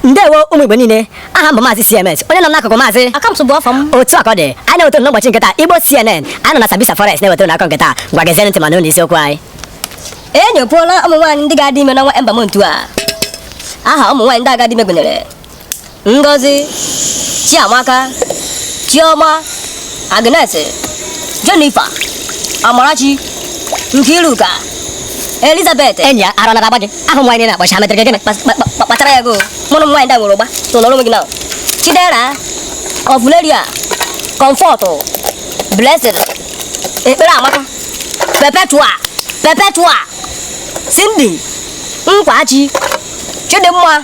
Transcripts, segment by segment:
ndewo ụmụ igbo niile aha m bụ maazị cms onye nọ n'akụkụ maazị akamtụ bụ ọfọ m otu a ka ọ dị anyị na-ewetara n'ụbọchị nke taa igbo cnn anyị nọ na sambisa forest na-ewetara unu akụkọ nke taa ngwa gezie ntị ma nụrụ isiokwu anyị e nyopuola ụmụ nwaanyị ndị ga-adị ime n'ọnwa ember month a aha ụmụ nwaanyị ndị ga-adị ime gụnyere Ngozi, Chiamaka, Chioma, Agnes, Jennifer, Amarachi, Nkiruka, Elizabeth. Enyi a ara na-agba gị aha nwaanyị niile na-akpọcha ha metere gị gịnị? Kpa- kpa- kpa- Kpachara anya gị o. Ụmụ nwaanyị ndị a nwere ụgba. So nọrọ onwe gị na. Chidera, Ọfụleria, Comfort, Blessing, Ekpere Amaka, Perpetua, Perpetua, Cindy, Nkwachi, Chidimma,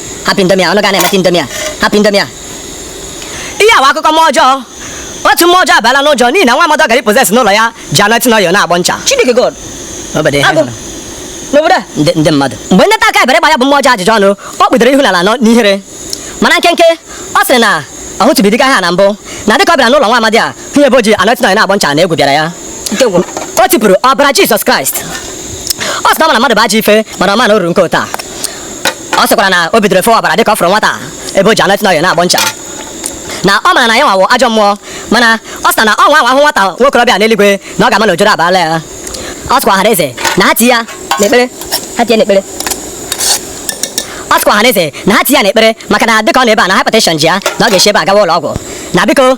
hapụ indomie a ọnụ ga na-emeta indomie a hapụ indomie a ihe a wụ akụkọ mmụọ ọjọọ otu mmụọ ọjọọ abaala n'ụjọ n'ihi na nwa amadi ọ gara ịpossess n'ụlọ ya ji anointing oil na-agbọ ncha Chineke God Obodo ihe Agụ. hụrụ. n'obodo a ndị ndị mmadụ mgbe ndị nta akụkọ bịara gbaa ya bụ mmụọ ọjọọ ajụjụ ọnụ ọ kpụdoro ihu n'ala nọ n'ihere mana nkenke ọ sịrị na ọ hụtụbeghị ụdị agwa a na mbụ na dịka ọ bịara n'ụlọ nwa amadi a hụ ebe o ji anointing oil na-agbọ ncha na egwu bịara ya na ike gwụrụ o tipụrụ ọbara jizọs kraịst ọ sị na ọ ma na mmadụ bụ ajọ ife mana ọ ma na o ruru nke otu a ọ sịkwara na o bidoro fewa ọbara dịka ọ fụrụ nwata ebe o ji anointing oil na-agbọ ncha na ọ mara na ya nwa wụ ajọ mmụọ mana ọ sị na ọ nwa hụ nwata nwokorobịa n'eluigwe na ọ ga-ama na ojoro abaala ya ọ sịkwa ọhaneze na ha ti ya n'ekpere ha ti ya n'ekpere ọ sịkwa ọhaneze na ha ti ya n'ekpere maka na dịka ọ nọ ebe a na hypertension ji ya na ọ ga-esi ebe a gawa ụlọ ọgwụ na biko